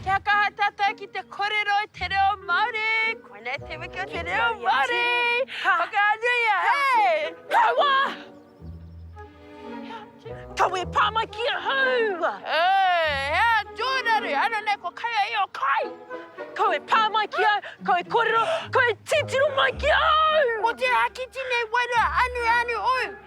Kia kaha tatou ki te korero i te reo Maori. Koinei te wiki o te reo Maori. Ka whakaanuia he. Kawa! Kawa e pa mai ki ahau! He a Jonaru, ano nei ko kai a io kai! Kau e pa mai ki au, kau e korero, kau e titiro mai ki ahau! Mo te hakiti nei wairua anu anu ou.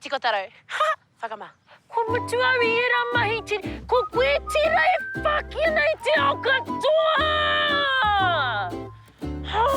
Tiko taro. Ha! Whakama. Kua mutu au i era mahi ti. Ko koe tera e whaki ana i te ao katoa! Hau!